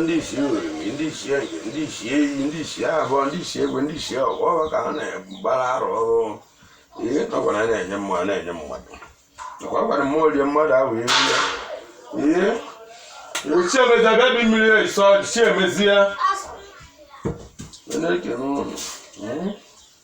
ndị isi oriri ndị isi ege ndị isi iyi ndị isi abụọ ndị isi egwe ndị isi ọgwụ ọgwụ ka ha na-agbara arụ ọrụ ihe nọkwa na na-enye mmadụ na-enye mmadụ nakwa gwara mmụọ rie mmadụ ahụ ewu ya ihe chiemezie bịa bi mmiri esọ chiemezie na-ekene ụnụ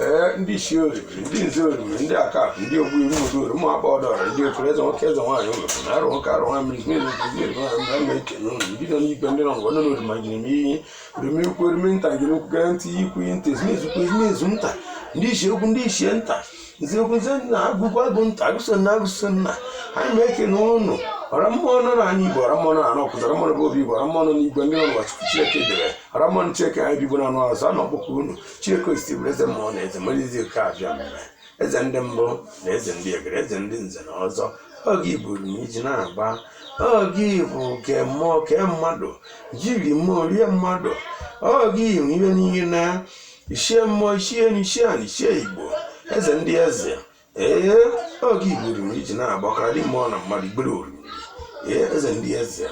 ee ndị isi oriri ndị nze oriri ndị akakụ ndị ogbu iwu ụdị oriri ụmụ akpa ọdọrọ ndị okoro eze nwoke eze nwaanyị ụlọ na arụ nwoke arụ nwa mmiri mmiri nke ndị oriri nwaanyị mgbe na-ekene ụnụ ndị nọ n'igwe ndị nọ n'ụwa nọ n'orima jiri m iyi orime ukwu orime nta jiri ukwu gara nta iyi ukwu iyi nta ezumezu ukwu ezumezu nta ndị ichie ukwu ndị ichie nta nze ukwu nze nta agụ ukwu agụ nta agụso nna agụso nna anyị na-ekene ụnụ ọra mmụọ nọ n'ani igbo ọra mmụọ nọ n'ani awkuzu ọra mmụọ bụ obi igbo ọra mmụọ nọ n'igwe ndị nọ n'ụwa chukwu chineke kere ọra mmụọ chineke ani igbo na anụ azụ a na-akpọku unu Chineke osisi bụrụ eze mmụọ na eze mmadụ izi oke abịama eze ndị mbụ na eze ndị egede eze ndị nze na ọzọ oge iburu na iji na-agba oge bụ ke mmụọ ke mmadụ jiri mmụọ rie mmadụ oge iwu ihe niile na ichie mmụọ ichie enu ichie ani ichie igbo eze ndị eze ee oge igburu m iji na-agbakara ndị mmụọ na mmadụ igbere oriri ee eze ndị eze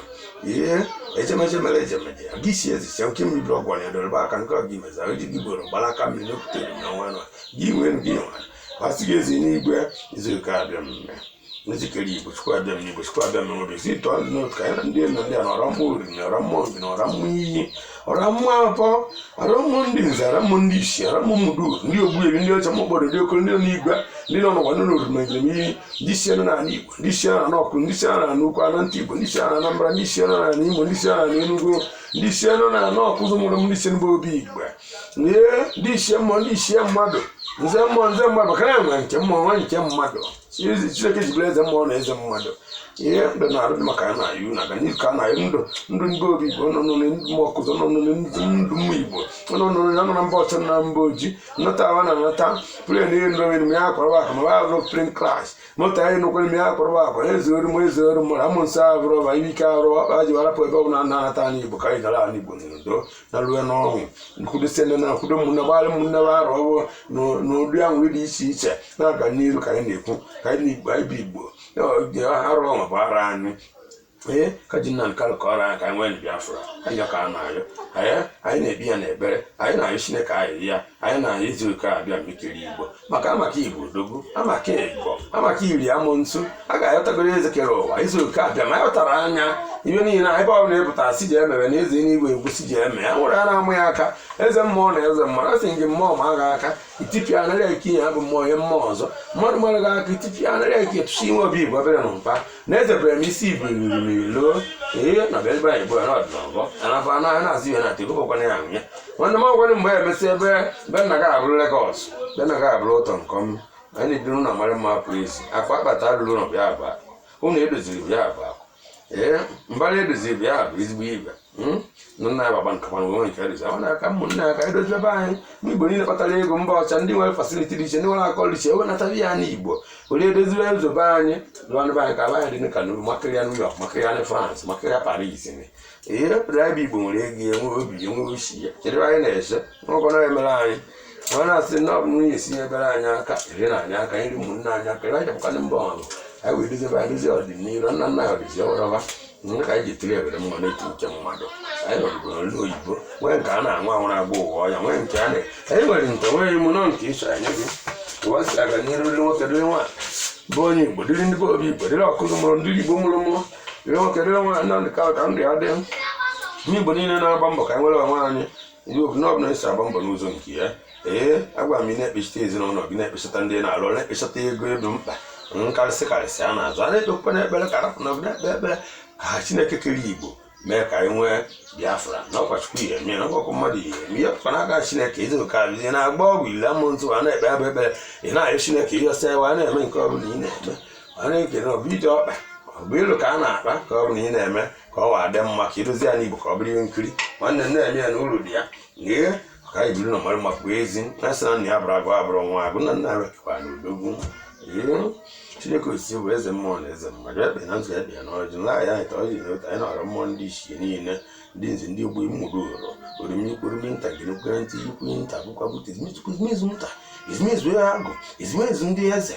ee ejemeje mere ejemeje aga isi eze sia nke mmiri ọgwụ na edorebe aka nke ọgị meza eji gị gboro gbara aka mmiri n'okwutere na nwa nwa gị nwee ndị nwa masị gị ezi n'igwe izu nke abịama eze kere igbo chukwu abịama igbo chukwu abịama n'obi si tụọ ndị n'otu ka anyị na ndị elu ndị ana ọra mmụọ oriri na ọra mmụọ obi na ọra mmụọ iyi ọra mmụọ atọ ọra mmụọ ndị nze ọra mmụọ ndị isi ọra mmụọ mmudu ndị ogbuebi ndị ọcha mkpọrọ ndị okoro ndị nọ n'igwe ndị nọ n'ụwa ndị nọ n'oroma njem iyi ndị isi nọ n'ala igbo ndị isi nọ n'ọkụ ndị isi nọ n'ala ukwu ala nta igbo ndị isi nọ n'anambra ndị isi nọ n'ala imo ndị isi nọ n'ala enugu ndị isi nọ n'ala awkuzu mụrụ m ndị isi n'ebe obi igbo ee ndị isi mmụọ ndị isi mmadụ nze mmụọ nze mmadụ ka na nwe nke mmụọ nwe nke mmadụ ezi chineke ji bụrụ eze mmụọ na eze mmadụ ihe mbe na-arụ maka ya na iwu na-aga n'ihu ka a na-ayọ ndụ ndụ ndị obi igbo nọ n'ụlọ ndụ ụmụ awkuzu nọ n'ụlọ ndị ndụ ụmụ igbo nọ n'ụlọ ya nọ na mba ọcha na mba oji nnọta awa na anata plen ihe ndụ onwe ya akwarwa akụ ma wa azụ plen klas mụta ihe nnukwu ime ya akwarwa akụ eze oru m eze oru mụrụ amụ nsọ abụrụ ọba ihe ike arụ ọkpa ji warapụ ebe ọ bụla na-anata ani igbo ka anyị gara ani igbo n'udo na rue n'ọṅụ nkwudosie ndị na-akwudo ụmụnne gbalị ụmụnne na-arụ ọrụ n'ụdị ahụ dị iche iche na-aga n'iru ka anyị na-ekwu ka anyị na igbo anyị bụ igbo arụ ọṅụ bụ ara anyị ee ka ji nna nka lụkọrọ anyị ka anyị nwee na biafra anyị ka a na-ayọ anyị na-ebi ya n'ebere anyị na-ayọ chineke ayịyọ anyị na izu ụka abịama kere igbo maka amaka igbo odogwu amaka igbo amaka iri amụ ntu a ga-ayọtagoro eze kere ụwa izu ụka abịama ayọtara anyị ihe niile ebe ọ bụla ịpụta si ji emere na eze n'igwe egwu si ji eme ya nwere a na-amụ ya aka eze mmụọ na eze mmadụ a sị gị mmụọ maa gị aka itipịa anara eke ya bụ mmụọ ihe mmụọ ọzọ mmadụ mara gị aka itipịa anara eke tụsi inwe obi igbo obere na mba na-ezebere m isi ibu riri loo ihe na bịa ebe anyị bụ na ọdịnọgọ anafọ anụ ahụ na-azụ ihe na ata ebụbọkwana ya ahụ ya nwanne m ọgwara mgbe ya emesị ebe be nna gị abụrụ Legọs be nna gị abụrụ ụtọ nke ọma anyị na-ebi n'ụlọ mara mma pụọ ezi akụ akpata alụrụ ụlọ bịa abụ akụ ụlọ edoziri bịa abụ akụ ee mbara edoziri bịa abụ ezigbo ebe hmm? na nna ya baba nkakwa na onwe nke ya dozie na aka ụmụnna ya ka anyị dozie ebe anyị n'igbo niile kpatara ego mba ọcha ndị nwere fasiliti dị iche ndị nwere akụ dị iche ewenata ya n'igbo were edoziwe ụzọ be anyị lụọ ụnọ be anyị ka ala anyị dị ka nuru makarịa New York makarịa France makarịa Paris ihe pụrụ ebe igbo nwere ego enwe obi enwe osi ya kedụ anyị na-ese n'ọgọ na-emere anyị ọ na-asị na ọ bụ nwunye esi ebere anyị aka ere na anyị aka iri ụmụnne anyị aka ebe anyị bụkwanụ mba ọrụ anyị wee dozie be anyị dozie ọdịnihu nna nna ya ọdịzi ọrọba nke ka anyị ji tiri ebere mma n'etu uche mmadụ anyị nọrụgo n'olu oyibo nwee nke a na-anwụ anwụ na-agba ụwa ọya nwee nke a na anyị nwere nke nwere ime nọ nke ịchọ anyị gị ụwa si aga n'iru dịrị nwoke dịrị nwaanyị bụ onye igbo dịrị ndị be obi igbo dịrị ọkụzụ mụrụ ndị igbo mụrụ mụ dịrị nwoke dịrị nwaanyị nke ka ndụ ya dị ndị igbo niile na-agba mbọ ka anyị nwere onwe anyị ndị obodo na ọbụla esi agba mbọ n'ụzọ nke ya ee agwa m ị na-ekpechite ezinụlọ gị na-ekpechata ndị na-alụ ọrụ, na-ekpechata ego ebe mkpa nkarịsị karịsị a na-azụ a na-ekpekwa n'ekpere ka arapụ na ọbụla ekpe ekpere ka ha chineke kere igbo mee ka anyị nwee biafra na ọkwa chukwu ihe eme na ọkwa mmadụ ihe eme ihe pụkwa n'aka chineke ịdị oke abụ ihe na-agba ọgwụ ile amụ ntụ a na-ekpe abụ ekpere ị na-ayọ chineke ihe ọsọ ewe a na-eme nke ọbụla ị na-eme a na-ekele ọbụ ije ọkpa ọ bụ ilu ka a na-akpa ka ọbụla ị na-eme ka ụwa dị mma ka ịrụzi ya n'igbo ka ọ bụrụ ihe nkiri nwanne m na-eme ya na uru dị ya ee ka anyị biri n'ụnọ mara mma pụọ ezi na sị na nna ya bụrụ agụ abụrụ nwa agụ na nna ya bụkwa na odogwu ee chineke osisi bụ eze mmụọ na eze mmadụ ekpe na nzu ekpe ya na ọjị nla ya anyị ka ọ ji na otu anyị na-arịọ mmụọ ndị ichie niile ndị nze ndị ogbo mmụrụ ụrọ orimikwurumi nta gị nkwere ntị ikwu nta bụkwa bute ezumezu nta ezumezu agụ ezumezu ndị eze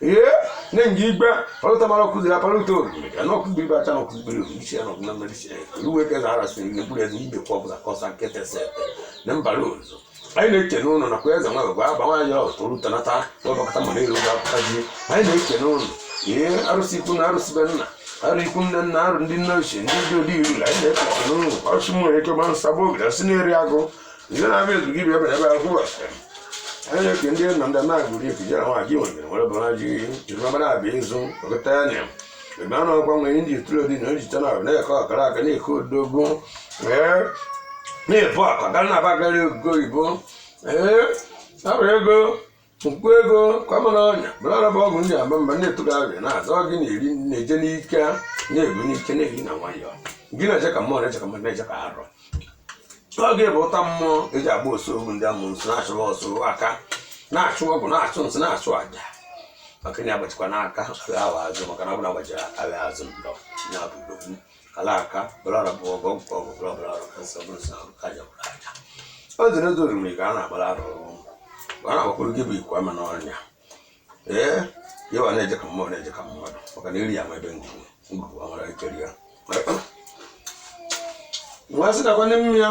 ee ne ngi igbe olu ta mara kuzi apa lu to ya no kuzi ba ta no kuzi bele lu shi no na mele shi lu we ke zara si ne bule ni be ko bla ko san kete se ne mba lu zo ai ne ke no no na kweza mwa ba ba wa yo to lu ta na ta to ba ka ta mo ne lu ga ta ji ai ne ke no no ye arusi kun arusi benna ari kun na na aru ndi na shi ndi do di lu ai ne ke no no arusi mo e ke ban sabo ga sineri ago ihe na-abịa ezu gị bịa bịa bịa kwụ asị anyị na-eke ndị nna ndị na-agụrụ ife jere nwa ji nwere nwere bara ji jiri mabara abịa ịzụ ọgụta ya na ebe a na-akwa nwere ndị itụrụ dị na ejicha na abụ na-eke ọkara aka na-eke odogwu ee na-ebu akwa gara na abagarị ego oyibo ee abụrụ ego mkpu ego kwamana ọnya mara araba ọgwụ ndị aba mba na-etụrụ arịa na-azọ gị na-eri na-eje n'ike na-eri n'ike na-eri na nwayọọ gị na-eje ka mmụọ na-eje ka mmadụ na-eje ka arọ oge bụ ụta mmụọ eji agba osu ogwu ndị amụ nsọ na-achụwa ọsọ aka na-achụ ọgwụ na-achụ nsị na-achụ aja maka na agbachikwa n'aka agha azụ maka na ọ bụla agbachiri agha azụ ndụ ya bụ alaka bụlara bụ ọgọ nke ọgụ bụla bụla arụ ka nsọ bụrụ sọ arụ ka aja bụrụ aja o dị n'oge oriri ka a na-agbara arụ ọrụ mgbe a na-agbakwuru gị bụ ikwu ama n'ọnya ee ka ịwa na-eje ka mmụọ na-eje ka mmadụ maka na iri ya ma ebe ngwugwu ngwugwu amara ekeri ya nwa sị nakwa n'ime ya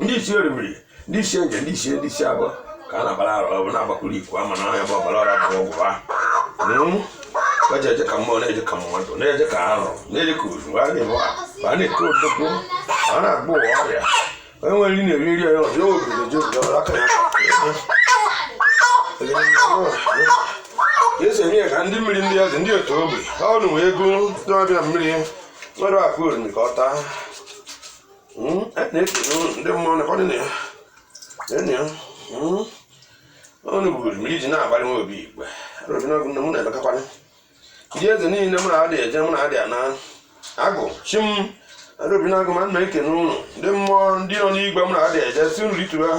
ndị isi orimiri ndị isi nze ndị isi ndị isi abụọ ka a na-agbara arụ ọ bụ na-agbakwuru ikwu ama na ya bụ ọbara ọra bụ ọgwụ ha ka ji eje ka mmụọ na-eje ka mmadụ na-eje ka arụ na-eje ka ozu a na-eme a na-eke odogwu a na-agba ụwa ọrịa onye nwere nri na-eri nri onye ọzọ obi na-eji obi ọrụ aka ya esi enye ya ka ndị mmiri ndị eze ndị otu ogbe ha ọnụ wee ego ndị ọbịa mmiri nwere akụ oriri ka ọ taa hmm, ekene ndị mmụọ na ọdịna ya enyi ya ọnụ hmm, buru m iji na-agbalị nwa obi igwe obi na mụ na-emekakwanye ndị eze niile mụ na-adị eje mụ na-adị ana agụ chi m arụbi na-agụ ma nna ekene unu ndị mmụọ ndị nọ n'igwe mụ na-adị eje si nri tụrụ ha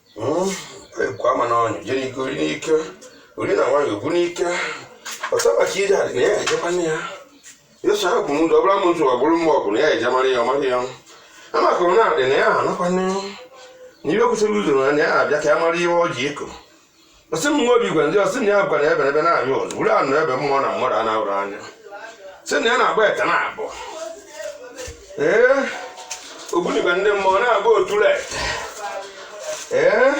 ikwu ama na ọnyụ je n'ike ori n'ike ori na nwanyị obu n'ike ọsọ maka ije adị na ya ejekwa nne ya yesu ahụ bụ ndụ ọbụla m ntụ ọ bụrụ mma ọ bụ na ya eje mara ya ọ mara ya amaka na adị na ya anakwa nne ya na ibe kwụsịrị ụzọ na ya abịa ka ya mara ihe ọ ji eko ọ sị m nwa obi igwe ndị ọ sị na ya bụkwa na ebe ebe na-anyụ ọzọ bụrụ anụ ebe mmụọ na mmadụ a na-ahụrụ anya sị na ya na-agba ete na abụ ee ogbunigwe ndị mmụọ na-agba otule ete ee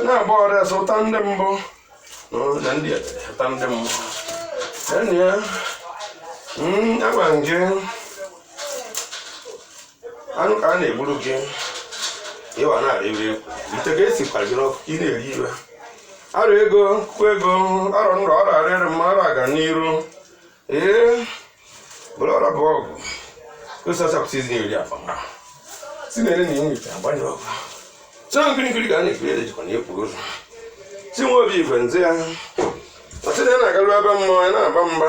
na-agba ọrụ ọrịa ụta ndị mbụ na ndị ụta ndị mmụọ enyi ya agwa nje anụ ka a na-egburu gị ịwa na-arị ire ite ka e si kwara gị n'ọkụ ka ị na-eri iwe arụ ego kwụ ego arụ nrọ ọrụ arịrị mma arụ aga n'iru ee bụrụ ọrụ bụ ọgụ osasapụta izi na-eri akpa ma si na-ere na inwe ite agbanye ọgụ sọ nkiri nkiri ka a na-ekiri ede jikwa na-ekpu ụzọ si nwa obi igwe nze ya ọ sị na ya na-agaru ebe mmụọ ya na-aba mba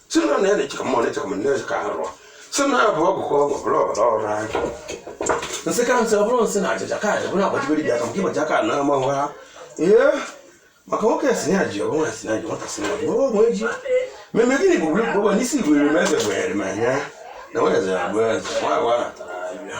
si na na-eche ka mmụọ na-eche ka mmụọ na-eche ka arụ si na abụ ọgwụ ka ọgwụ bụrụ ọbara ọrụ anyị nsị ka nsị ọ bụrụ nsị na achịcha ka anyị bụrụ agbachibiri bịa ka nke ịgbacha ka na ama ha ee maka nwoke si na ji ọgwụ si na ji nwata si na ji ọgwụ onwe ji meme gịnị bụ bụrụ bụrụ n'isi igwere m eze gwenyere m anya na nwere eze abụọ eze nwa agwa natara abịa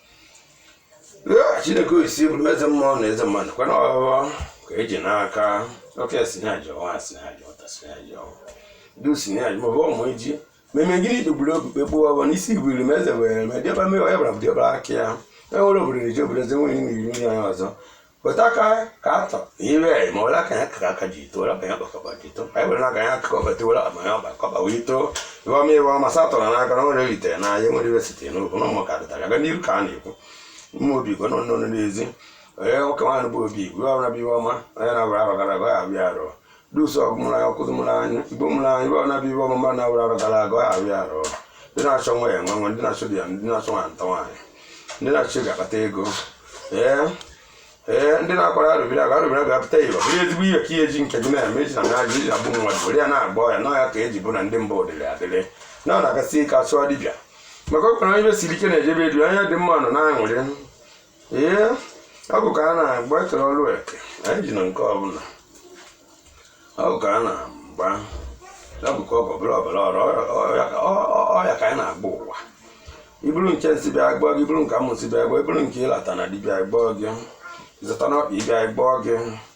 chineke sị bụrụ eze mmụọ na eze mmadụ kwana ọghọghọ ka eji n'aka oke sị na ya ji ọwa sị na ya ji ọta sị na ya ji ọwa du sị na ya ji ma ọ bụ ọmụ iji meme gịnị kpegburu okpukpe kpụọ ọbọ n'isi igwuru m eze were me dịọba mewa ya bara dịbịa aka ya enwere obodo na-eji obodo eze nwere ime iri onye ọzọ Kpọtaka ka atọ ire ma ọla ka ya kaka aka ji ito ọla ka ya kpakọba ji ito anyị were n'aka ya akụkọ bata ọla ma ya ọgbakọba wee ito iwe ọma iwe ọma satọ na n'aka na nwere eritere na ahịa nwere iwe sitere n'okwu na ụmụ ka dịtara aga n'iru ka a na-ekwu mma obi igwe nọ n'ọnụ n'ezi onye nwoke nwaanyị bụ obi igwe ọrụ na-abịa iwe ọma onye na-abụrụ arọ gara aga ya abịa arọ dusu ọgụ mụrụ anya ọkụzụ mụrụ anya igbo mụrụ anya ibe ọbụla bụ ibe ọmụma na awụrụ arọ gara aga ọ arụ ya arụ ndị na-achọ nwa ya enwe nwa ndị na-achọ di ya ndị na-achọ nwa nta nwaanyị ndị na-achọ ị ga-akpata ego ee ee ndị na-akwara arụbiri aga arụbiri aga apụta iwe bụrụ ezigbo ihe ka ihe ji nke gị na-eme iji na na-ajụ iji na-egbu mmadụ were ya na-agba ọya na ọya ka eji bụ na ndị mba odịrị adịrị na ọ na-agasị ike achụọ dibịa maka ọ kpara ibe siri ike na-ejebe edu anya dị mma nọ na-aṅụrị ee ọgwụ ka a na-agba ekere ọrụ eke anyị ji na nke ọbụla ọgwụ ka a na-agba ọgwụ ka ọgwụ ọbụla ọbụla ọrụ ọya ka anyị na-agba ụwa i buru nke nsị bịa gbọọ gị i buru nke amụsu bịa gbọọ i buru nke ị lata na dibịa gbọọ gị ị zụta n'ọkpa ị bịa gbọọ gị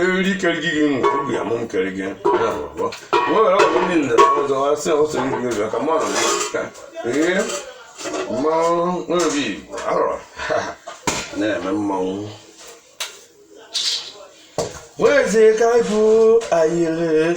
eriri kere gị gị nwe obi ya mụ m kere gị nwere ọgwụ ndị nna ọzọ asị ọsọ ndị obi aka mmanụ ka ee mmanwụ nwebi arọ na-eme mmanwụ nwezi ka bụ ayịrị